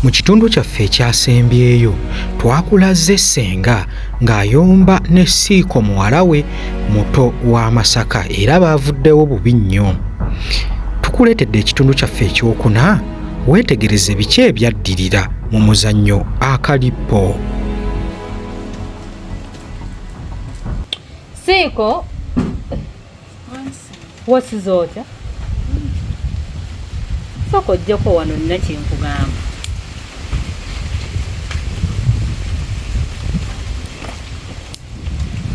Mu kitundu kyaffe ekyasembyeyo twakulaze ssenga ng'ayomba ne siiko muwala we muto wa Masaka era baavuddewo bubi nnyo. Tukuleetedde ekitundu kyaffe ekyokuna weetegereze biki ebyaddirira mu muzannyo akalippo. Siiko wasiza otya soka ojjako wano nina kyenkugamba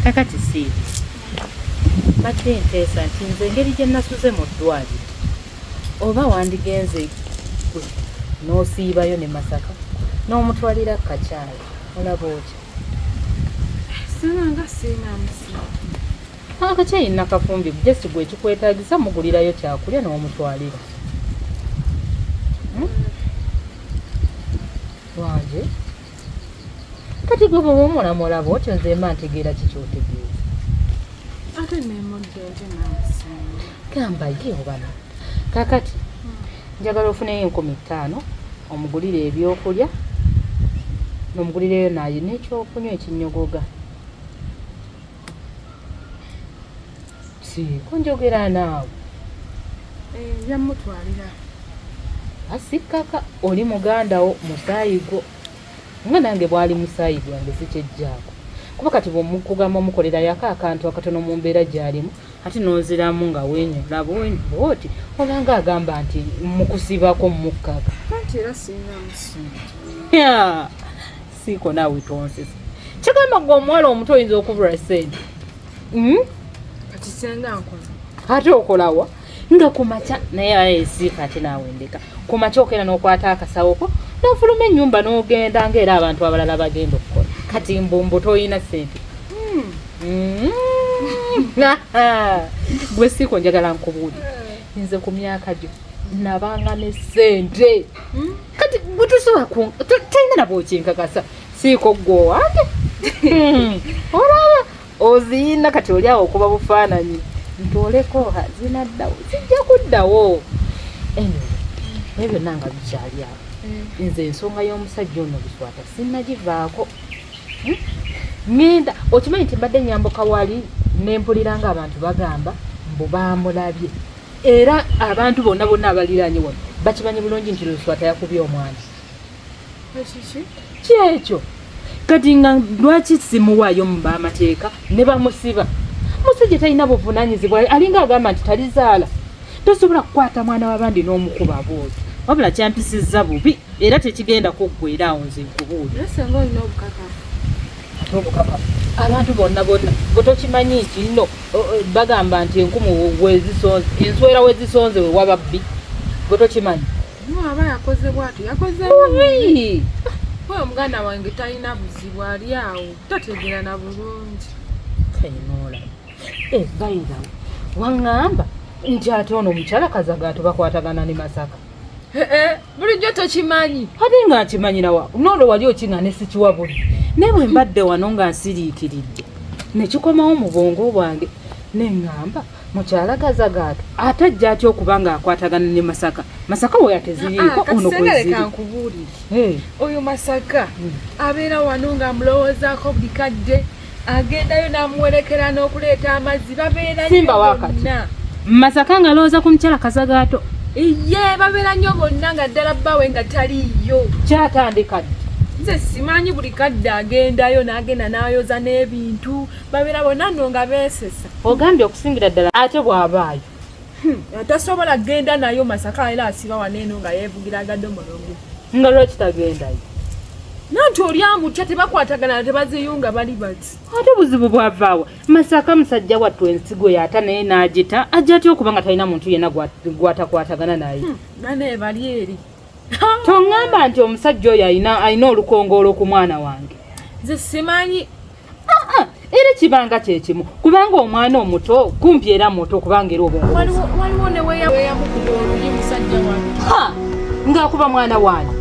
kakati si mbadde nteesa nti nze engeri gye nasuze mu ddwaliro oba wandigenze gwe n'osiibayo ne masaka n'omutwalira kakyala olaba otya sinanga siinamusi Akakyayi nakafumbi just gwe ekikwetaagisa mugulirayo kyakulya n'omutwalira hmm? wange kati gwe bwoba omulamulaba otyo nze mba ntegeera kikyotegeeza ate nemudde nti namusinga gamba ye obana kakati hmm. njagala ofuneyo enkumi ttaano omugulire ebyokulya nomugulireyo naye nekyokunywa ekinyogoga kunjogera naawe eh, yamutwalira asikkaka oli mugandawo musaayi gwo nga nange bwali musaayi gwange sikyejjaako kuba kati bwemukugamba omukolera yako akantu akatono mu mbeera gyalimu ate nonziramu nga wenyula bwoti olanga agamba nti mukusibako mukkaga siiko naawe tonsesa kigamba gwe omuwala omuto oyinza okubula sente hmm? kati senga nkola ate okolawa nga kumakya naye ayesiika ate naawe ndeka kumakya okera n'okwata akasawo ko nofuluma ennyumba n'ogenda ngaera abantu abalala bagenda okukola kati mbumbu toyina sente hmm. Hmm. gwe siiko njagala nkubuuli nze ku myaka gyo nabanga ne sente hmm? kati bwetusobola talina nabwokinkakasa siiko gwe owange hmm. olaba oziyina kati oli awo okuba bufaananyi ntooleko zinaddawo zijja kuddawo naye byonna nga bikyali awo hmm. nze ensonga y'omusajja ono biswata sinnagivaako hmm? ngenda okimanyi nti mbadde nyambuka wali nempulira nga abantu bagamba mbu bamulabye era abantu bonna bonna abaliraanye wano bakimanyi bulungi nti luswata yakubye omwana kyekyo kati nga lwaki simuwaayo mu bamateeka ne bamusiba musajja talina buvunanyizibwa alinga agamba nti talizaala tosobola kukwata mwana wabandi n'omukuba bwoto wabula kyampisizza bubi era tekigenda kuggwera awo nze nkubuulira abantu bonna bonna bwe tokimanyi nti nno bagamba nti enkumu wezisonze enswera wezisonze we waba bbi bwe tokimanyi aba yakoze bwati yakoze we omuganda wange talina buzibu ali awo tategera na bulungi kainola evaira eh, waŋŋamba nti ate ono omukyala kazaga atubakwatagana ne masaka eh, eh, bulijjo tokimanyi ate nga nkimanyirawa noolo wali okina ne sikiwa buli naye bwe mbadde wano nga nsiriikiridde ne kikomawo mu bwongo bwange ne ŋŋamba mukyala kazagaata ate ajja atya okuba ng'akwatagana ne masaka masaka we yateziriiko ah, ah, ono kwezirinkubuulire eh. oyo masaka hmm. abeera wano ng'amulowoozaako buli kadde agendayo namuwerekera nokuleeta amazzi babeerasimba wakati masaka nga lowooza ku mukyala kazagaato iye babeera nnyo bonna nga ddala bbawe nga taliiyo kyatandika ddi nze simanyi buli kadde agendayo nagenda nayoza n'ebintu babeera bonna no nga beesesa ogambye okusingira ddala ate bw'abaayo Hmm, atasobola genda nayo masaka era asiba waneeno nga yevugira agadde omulungu nga lwaki tagendayo nanti oli amutya tebakwatagana tebaziyunga bali bati ate buzibu bwavaawa masaka musajja wattu ensigo yaata naye n'agita ajja atya okuba nga talina muntu yenna gwatakwatagana naye hmm, bane bali eri toŋŋamba nti omusajja oyo alina olukongoolo ku mwana wange nze simanyi era kibanga kyekimu kubanga omwana omuto kumpi era muto kubanga era obongaakuba mwana wange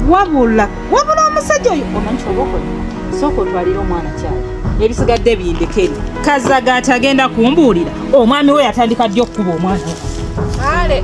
wabula wabula omusajja oyo omanyi kyobaokola sooka otwalire omwana kyali ebisigadde bindekeri kazaga ati agenda kumbuulira omwami we yatandika ddi okukuba omwana ale